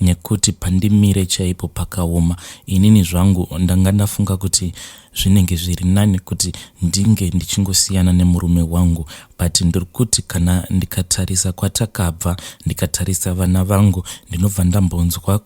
nekuti pandimire chaipo pakaoma. Inini zvangu ndanga ndafunga kuti zvinenge zviri nani kuti ndinge ndichingosiyana nemurume wangu but ndiri kuti kana ndikatarisa kwatakabva ndikatarisa vana vangu ndinobva ndambonzwa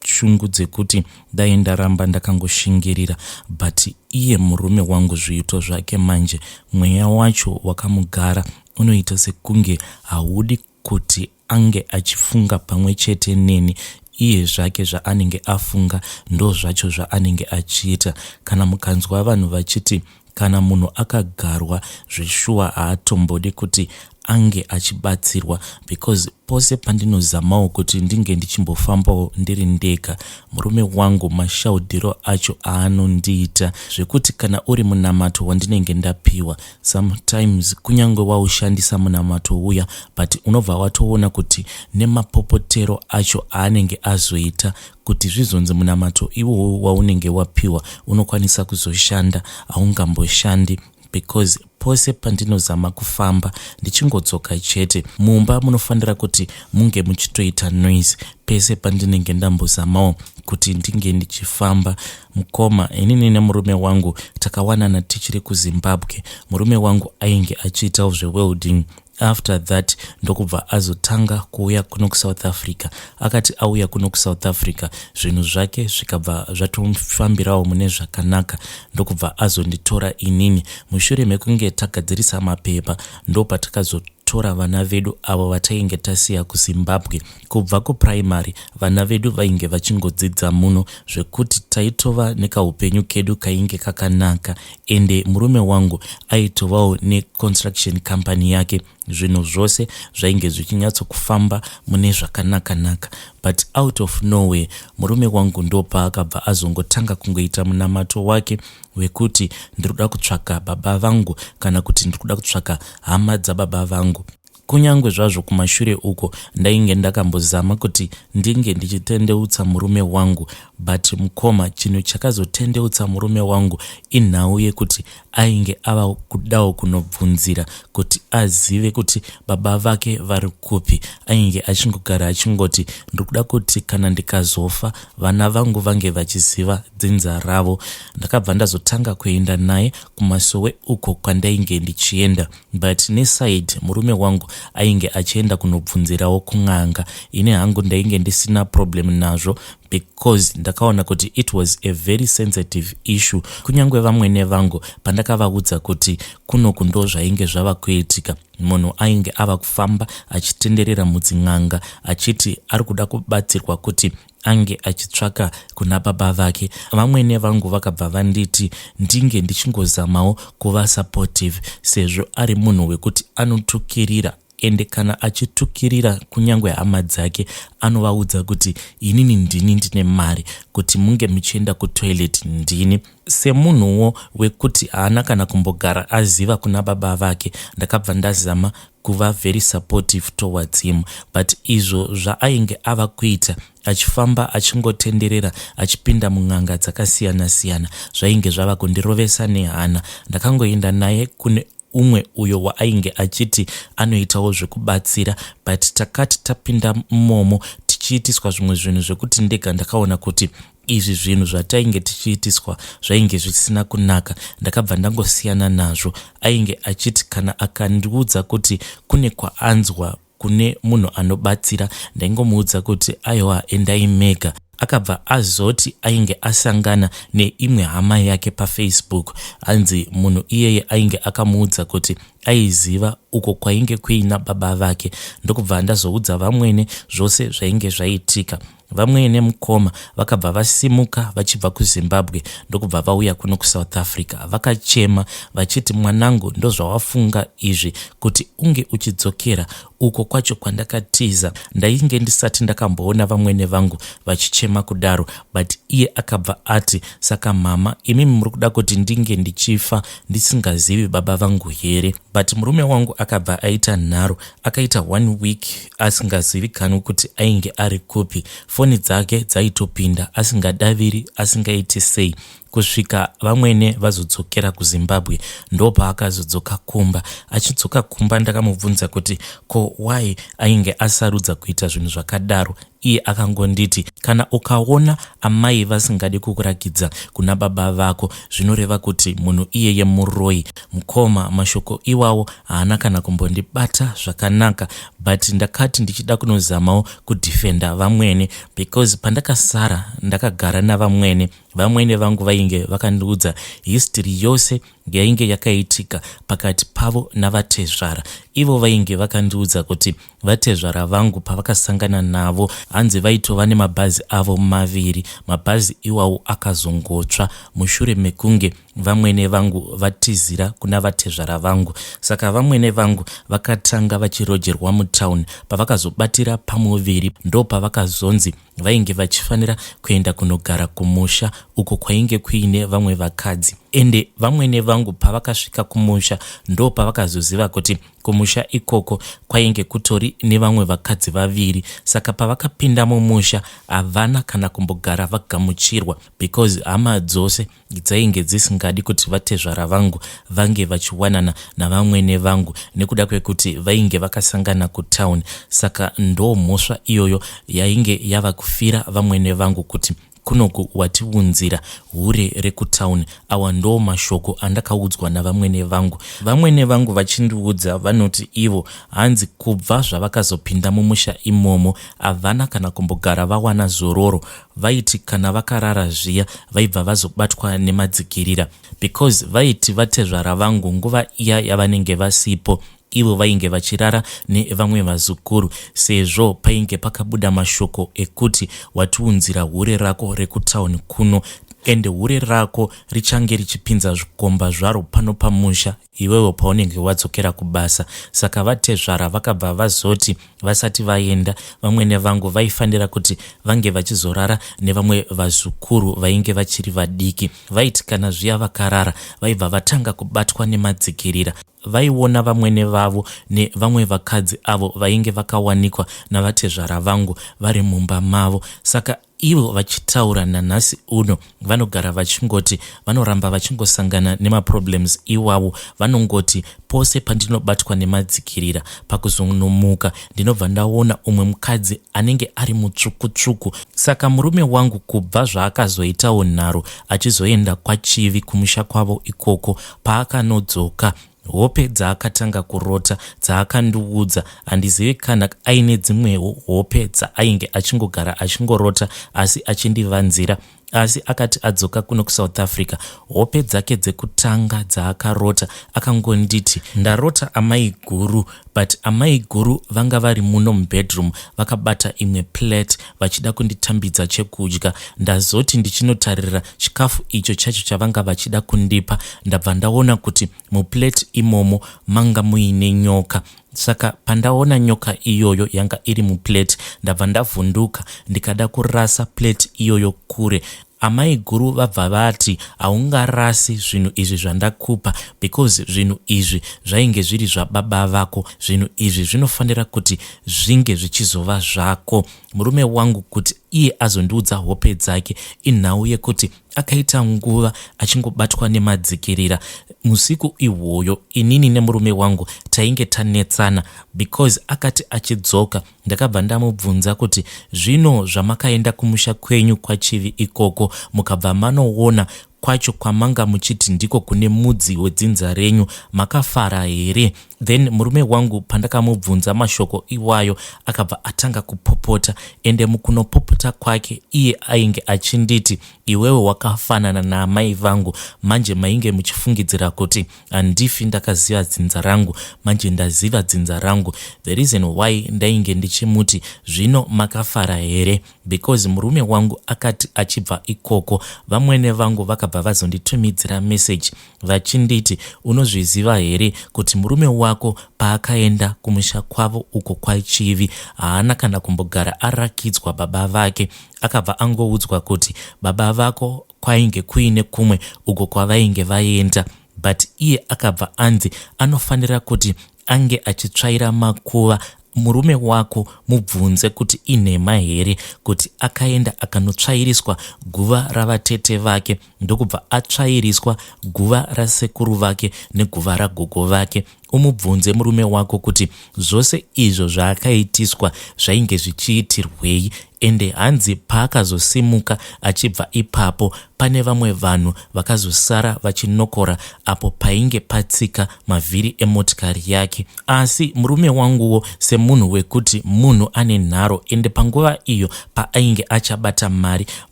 shungu dzekuti dai ndaramba ndakangoshingirira but iye murume wangu zviito zvake manje mweya wacho wakamugara unoita sekunge haudi kuti ange achifunga pamwe chete neni iye zvake zvaanenge afunga ndozvacho zvaanenge achiita kana mukanzwa vanhu vachiti kana munhu akagarwa zveshuwa haatombodi kuti ange achibatsirwa because pose pandinozamawo kuti ndinge ndichimbofambawo ndiri ndega murume wangu mashaudhiro acho aanondiita zvekuti kana uri munamato wandinenge ndapiwa Sometimes kunyange waushandisa munamato uya but unobva watoona kuti nemapopotero acho aanenge azoita kuti zvizonzi munamato iwowo waunenge wapiwa unokwanisa kuzoshanda haungamboshandi because pose pandinozama kufamba ndichingodzoka chete mumba munofanira kuti munge muchitoita noise pese pandinenge ndambozamawo kuti ndinge ndichifamba uh, Mkoma, inini nemurume wangu takawanana tichiri kuZimbabwe. Murume wangu ainge achiitawo zvewelding after that ndokubva azotanga kuuya kuno kusouth africa akati auya kuno kusouth africa zvinhu zvake zvikabva zvatomufambirawo mune zvakanaka ndokubva azonditora inini mushure mekunge tagadzirisa mapepa ndopatakazotora vana vedu avo vatainge tasiya kuzimbabwe Kubva kupuraimari vana vedu vainge vachingodzidza muno zvekuti taitova nekaupenyu kedu kainge kakanaka ende murume wangu aitovawo neconstruction company yake zvinhu zvose zvainge zvichinyatsokufamba mune zvakanakanaka but out of nowhere murume wangu ndopaakabva azongotanga kungoita munamato wake wekuti ndiri kuda kutsvaka baba vangu kana kuti ndiri kuda kutsvaka hama dzababa vangu Kunyange zvazvo kumashure uko ndainge ndakambozama kuti ndinge ndichitendeutsa murume wangu but mukoma chinhu chakazotendeutsa murume wangu inhau yekuti ainge ava kudawo kunobvunzira kuti azive kuti baba vake vari kupi ainge achingogara achingoti ndiri kuda kuti kana ndikazofa vana vangu vange vachiziva dzinza ravo ndakabva ndazotanga kuenda naye kumasowe uko kwandainge ndichienda But neside murume wangu ainge achienda kunobvunzirawo kun'anga ini hangu ndainge ndisina problem nazvo because ndakaona kuti it was a very sensitive issue kunyange vamwene vangu pandakavaudza kuti kunoku ndo zvainge zvava kuitika munhu ainge ava kufamba achitenderera mudzin'anga achiti ari kuda kubatsirwa kuti ange achitsvaka kuna baba vake vamwene vangu vakabva vanditi ndinge ndichingozamawo kuva supportive sezvo ari munhu wekuti anotukirira ende kana achitukirira kunyange hama dzake anovaudza kuti inini ndini ndine mari kuti munge muchienda kutoilet ndini semunhuwo wekuti haana kana kumbogara aziva kuna baba vake ndakabva ndazama kuva very supportive towards him but izvo zvaainge ava kuita achifamba achingotenderera achipinda mun'anga dzakasiyana siyana zvainge zvava kundirovesa nehana. Ndakangoenda naye kune umwe uyo waainge achiti anoitawo zvekubatsira but takati tapinda mumomo tichiitiswa zvimwe zvinhu zvekuti ndega ndakaona kuti izvi zvinhu zvatainge tichiitiswa zvainge zvisina kunaka ndakabva ndangosiyana nazvo ainge achiti kana akandiudza kuti kune kwaanzwa kune munhu anobatsira ndaingomuudza kuti aiwa endai mega akabva azoti ainge asangana neimwe hama yake pafacebook hanzi munhu iyeye ainge akamuudza kuti aiziva uko kwainge kuina baba vake ndokubva ndazoudza vamwene zvose zvainge zvaitika Vamwe nemukoma vakabva vasimuka vachibva kuZimbabwe ndokubva vauya kuno kuSouth Africa vakachema vachiti mwanangu ndozvawafunga izvi kuti unge uchidzokera uko kwacho kwandakatiza ndainge ndisati ndakamboona vamwene vangu vachichema kudaro but iye akabva ati saka mhama imimi muri kuda kuti ndinge ndichifa ndisingazivi baba vangu here but murume wangu akabva aita nharo akaita one week asingazivikanwi kuti ainge ari kupi foni dzake dzaitopinda asingadaviri asingaiti sei kusvika vamwene vazodzokera kuzimbabwe ndopaakazodzoka kumba achidzoka kumba ndakamubvunza kuti ko why ainge asarudza kuita zvinhu zvakadaro iye akangonditi kana ukaona amai vasingadi kukurakidza kuna baba vako zvinoreva kuti munhu iyeye muroyi mukoma mashoko iwawo haana kana kumbondibata zvakanaka but ndakati ndichida kunozamawo kudefenda vamwene because pandakasara ndakagara navamwene vamwene vangu vainge vakandiudza history yose yainge yakaitika pakati pavo navatezvara ivo vainge vakandiudza kuti vatezvara vangu pavakasangana navo hanzi vaitova nemabhazi avo maviri mabhazi iwawo akazongotsva mushure mekunge vamwene vangu vatizira kuna vatezvara vangu saka vamwene vangu vakatanga vachirojerwa mutown pavakazobatira pamuviri ndopavakazonzi vainge vachifanira kuenda kunogara kumusha uko kwainge kuine vamwe vakadzi ende vamwene vangu pavakasvika kumusha ndo pavakazoziva kuti kumusha ikoko kwainge kutori nevamwe vakadzi vaviri saka pavakapinda mumusha havana kana kumbogara vagamuchirwa because hama dzose dzainge dzisingadi kuti vatezvara vangu vange vachiwanana navamwene vangu nekuda kwekuti vainge vakasangana kutown saka ndo mhosva iyoyo yainge yava kufira vamwene vangu kuti kunoku watiunzira hure rekutown awa ndo mashoko andakaudzwa navamwene vangu vamwene vangu vachindiudza vanoti ivo hanzi kubva zvavakazopinda mumusha imomo havana kana kumbogara vawana zororo Vaiti kana vakarara zviya vaibva vazobatwa nemadzikirira because vaiti vatezvara vangu nguva iya yavanenge vasipo ivo vainge vachirara nevamwe vazukuru sezvo painge pakabuda mashoko ekuti watiunzira hure rako rekutauni kuno ende hure rako richange richipinza zvikomba zvaro pano pamusha iwewe paunenge wadzokera kubasa. Saka vatezvara vakabva vazoti vasati vaenda, vamwene vangu vaifanira kuti vange vachizorara nevamwe vazukuru vainge vachiri vadiki. Vaiti kana zviya vakarara, vaibva vatanga kubatwa nemadzikirira. Vaiona vamwene vavo nevamwe vakadzi avo vainge vakawanikwa navatezvara vangu vari mumba mavo. Saka Ivo vachitaura nanhasi uno vanogara vachingoti vanoramba vachingosangana nemaproblems iwawo. Vanongoti pose pandinobatwa nemadzikirira pakuzonomuka ndinobva ndaona umwe mukadzi anenge ari mutsvuku tsvuku. Saka murume wangu kubva zvaakazoitawo nharo achizoenda kwaChivi kumusha kwavo ikoko paakanodzoka Hope dzaakatanga kurota dzaakandiudza handizive kana aine dzimwewo hope dzaainge achingogara achingorota asi achindivanzira asi akati adzoka kuno kusouth africa hope dzake dzekutanga dzaakarota akangonditi ndarota amai guru but amaiguru vanga vari muno mubedroom vakabata imwe plate vachida kunditambidza chekudya ndazoti ndichinotarira chikafu icho chacho chavanga vachida kundipa ndabva ndaona kuti muplate imomo manga muine nyoka saka pandaona nyoka iyoyo yanga iri muplate ndabva ndavhunduka ndikada kurasa plate iyoyo kure Amaiguru vabva vati, Haungarasi zvinhu izvi zvandakupa because zvinhu izvi zvainge zviri zvababa vako. Zvinhu izvi zvinofanira kuti zvinge zvichizova zvako. Murume wangu kuti iye azondiudza hope dzake inhau yekuti akaita nguva achingobatwa nemadzikirira. Musiku ihwoyo inini nemurume wangu tainge tanetsana because akati achidzoka Ndakabva ndamubvunza kuti zvino zvamakaenda kumusha kwenyu kwaChivi ikoko mukabva manoona kwacho kwamanga muchiti ndiko kune mudzi wedzinza renyu makafara here? Then murume wangu pandakamubvunza mashoko iwayo akabva atanga kupopota ende mukunopopota kwake iye ainge achinditi iwewe wakafanana naamai vangu manje mainge muchifungidzira kuti Handifi ndakaziva dzinza rangu manje ndaziva dzinza rangu the reason why ndainge ndichimuti zvino makafara here because murume wangu akati achibva ikoko vamwene vangu vakabva vazonditumidzira message vachinditi unozviziva here kuti murume wako paakaenda kumusha kwavo uko kwachivi haana kana kumbogara arakidzwa baba vake akabva angoudzwa kuti baba vako kwainge kuine kumwe uko kwavainge vaenda but iye akabva anzi anofanira kuti ange achitsvaira makuva murume wako mubvunze kuti inhema here kuti akaenda akanotsvairiswa guva ravatete vake ndokubva atsvairiswa guva rasekuru vake neguva ragogo vake Umubvunze murume wako kuti zvose izvo zvaakaitiswa zvainge zvichiitirwei ende hanzi paakazosimuka achibva ipapo pane vamwe vanhu vakazosara vachinokora apo painge patsika mavhiri emotikari yake. Asi murume wanguwo semunhu wekuti munhu ane nharo ende panguva iyo paainge achabata mari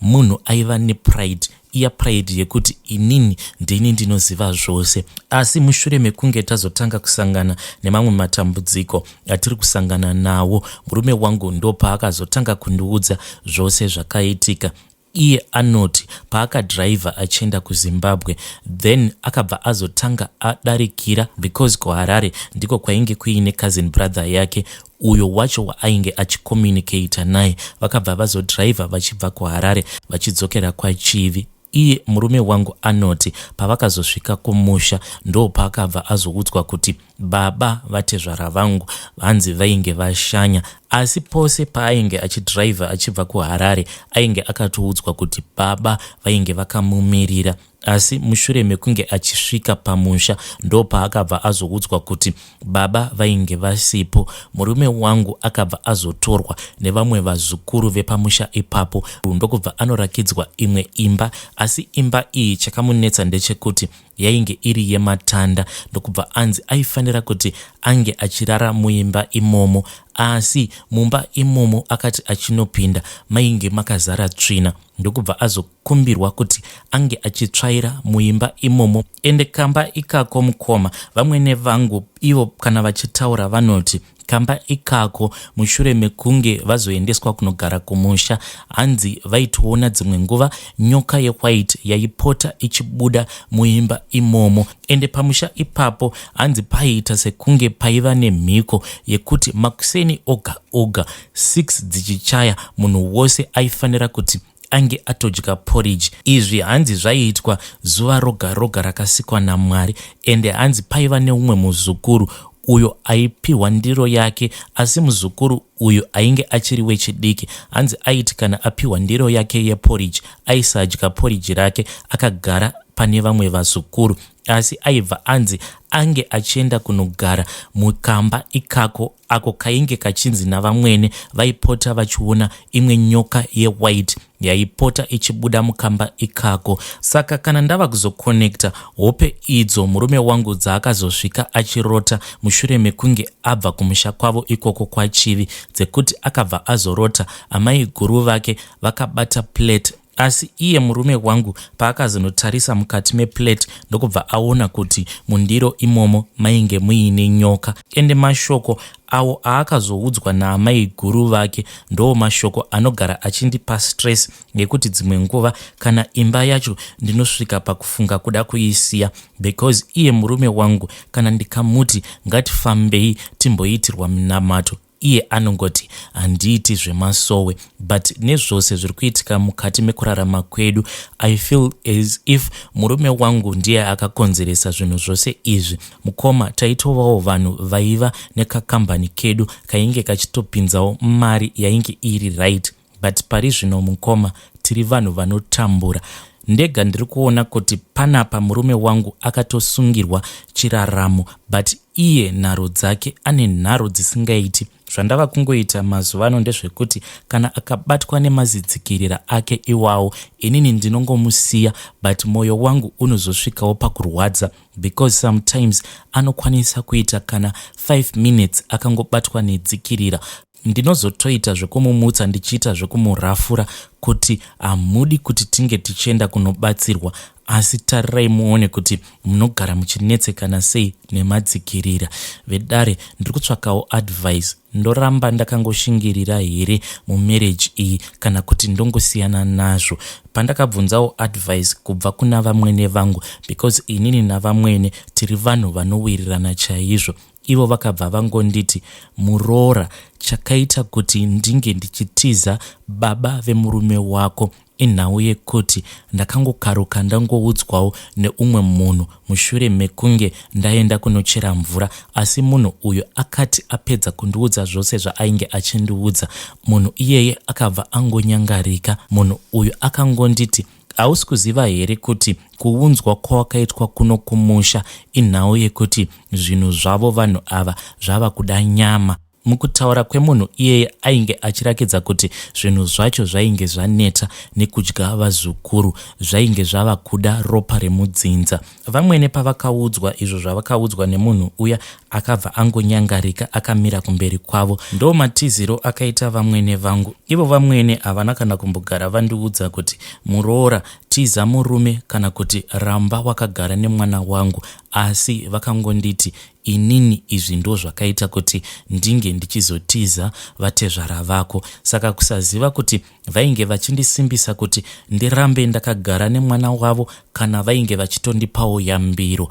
munhu aiva nepride iya pride yekuti inini ndini ndinoziva zvose asi mushure mekunge tazotanga kusangana nemamwe matambudziko atiri kusangana nawo murume wangu ndopaakazotanga kundiudza zvose zvakaitika iye anoti paakadhiraivha achienda kuzimbabwe then akabva azotanga adarikira because kuharare ndiko kwainge kuine cousin brother yake uyo wacho waainge achicommunicator naye vakabva vazodriver vachibva kuharare vachidzokera kwachivi iye murume wangu anoti pavakazosvika kumusha ndo paakabva azoudzwa kuti baba vatezvara vangu vanzi vainge vashanya asi pose paainge achidriver achibva kuharare ainge akatoudzwa kuti baba vainge vakamumirira Asi mushure mekunge achisvika pamusha ndopaakabva azoudzwa kuti baba vainge vasipo. Murume wangu akabva azotorwa nevamwe vazukuru vepamusha ipapo ndokubva anorakidzwa imwe imba asi imba iyi chakamunetsa ndechekuti yainge iri yematanda ndokubva anzi aifanira kuti ange achirara muimba imomo asi mumba imomo akati achinopinda mainge makazara tsvina ndokubva azo kumbirwa kuti ange achitsvaira muimba imomo ende kamba ikako mukoma vamwene vangu ivo kana vachitaura vanoti kamba ikako mushure mekunge vazoendeswa kunogara kumusha hanzi vaitoona dzimwe nguva nyoka yewhite yaipota ichibuda muimba imomo ende pamusha ipapo hanzi paiita sekunge paiva nemhiko yekuti makuseni oga oga 6 dzichichaya munhu wose aifanira kuti ange atodya porridge izvi hanzi zvaiitwa zuva roga roga rakasikwa namwari ende hanzi paiva neumwe muzukuru uyo aipiwa ndiro yake asi muzukuru uyu ainge achiri wechidiki hanzi aiti kana apiwa ndiro yake yeporridge aisadya porridge rake akagara pane vamwe vazukuru asi aibva anzi ange achienda kunogara mukamba ikako ako kainge kachinzi navamwene vaipota vachiona imwe nyoka yewhite yaipota ichibuda mukamba ikako saka kana ndava kuzokonekta hope idzo murume wangu dzaakazosvika achirota mushure mekunge abva kumusha kwavo ikoko kwachivi dzekuti akabva azorota amai guru vake vakabata plate Asi iye murume wangu paakazonotarisa mukati meplate ndokubva aona kuti mundiro imomo mainge muine nyoka ende mashoko awo aakazoudzwa naamai guru vake ndoo mashoko anogara achindipa stress nekuti dzimwe nguva kana imba yacho ndinosvika pakufunga kuda kuisiya because iye murume wangu kana ndikamuti ngatifambei timboitirwa minamato Iye anongoti handiiti zvemasowe but nezvose zviri kuitika mukati mekurarama kwedu I feel as if murume wangu ndiye akakonzeresa zvinhu zvose izvi. Mukoma taitovawo vanhu vaiva nekakambani kedu kainge kachitopinzawo mari yainge iri right. but parizvino mukoma tiri vanhu vanotambura ndega ndiri kuona kuti panapa murume wangu akatosungirwa chiraramo but iye nharo dzake ane nharo dzisingaiti zvandava kungoita mazuva ano ndezvekuti kana akabatwa nemazidzikirira ake iwawo inini ndinongomusiya but mwoyo wangu unozosvikawo pakurwadza because sometimes anokwanisa kuita kana 5 minutes akangobatwa nedzikirira ndinozotoita zvekumumutsa ndichiita zvekumurafura kuti hamudi kuti tinge tichienda kunobatsirwa asi tarirai muone kuti munogara muchinetsekana sei nemadzikirira vedare ndiri kutsvakawo advice ndoramba ndakangoshingirira here mumarriage iyi kana kuti ndongosiyana nazvo pandakabvunzawo advice kubva kuna vamwene vangu because inini navamwene tiri vanhu vanowirirana chaizvo Ivo vakabva vangonditi muroora chakaita kuti ndinge ndichitiza baba vemurume wako inhau yekuti ndakangokaruka ndangoudzwawo neumwe munhu mushure mekunge ndaenda kunochera mvura asi munhu uyu akati apedza kundiudza zvose zvaainge achindiudza munhu iyeye akabva angonyangarika munhu uyu akangonditi hausi kuziva here kuti kuunzwa kwawakaitwa kuno kumusha inhau yekuti zvinhu zvavo vanhu ava zvava kuda nyama mukutaura kwemunhu iyeye ainge achirakidza kuti zvinhu zvacho zvainge zvaneta nekudya vazukuru zvainge zvava kuda ropa remudzinza Vamwene pavakaudzwa izvo zvavakaudzwa nemunhu uya akabva angonyangarika akamira kumberi kwavo. Ndo matiziro akaita vamwene vangu. Ivo vamwene havana kana kumbogara vandiudza kuti muroora, tiza murume kana kuti ramba wakagara nemwana wangu asi vakangonditi inini izvi ndo zvakaita kuti ndinge ndichizotiza vatezvara vako. Saka kusaziva kuti Vainge vachindisimbisa kuti ndirambe ndakagara nemwana wavo kana vainge vachitondipawo yambiro.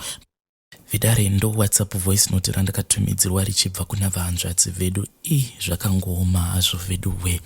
Vidare ndo WhatsApp voice note randakatumidzirwa richibva kuna vahanzvadzi vedu i zvakangooma hazvo veduwe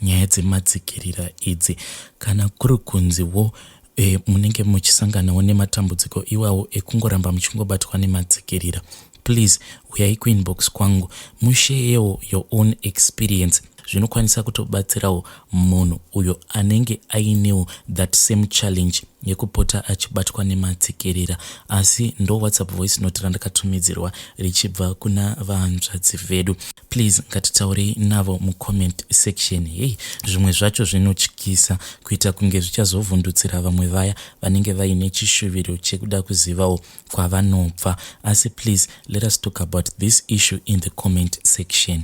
nyaya dzemadzikirira idzi kana kuri kunzi wo e, munenge muchisanganawo nematambudziko iwawo ekungoramba muchingobatwa nemadzikirira please uyai kuinbox kwangu musheyewo your own experience zvinokwanisa kutobatsirawo munhu uyo anenge ainewo that same challenge yekupota achibatwa nematsikirira asi ndo whatsapp voice note randakatumidzirwa richibva kuna vahanzvadzi vedu please ngatitaurei navo mucomment section hei zvimwe zvacho zvinotyisa kuita kunge zvichazovhundutsira vamwe vaya vanenge vaine chishuviro chekuda kuzivawo kwavanobva asi please let us talk about this issue in the comment section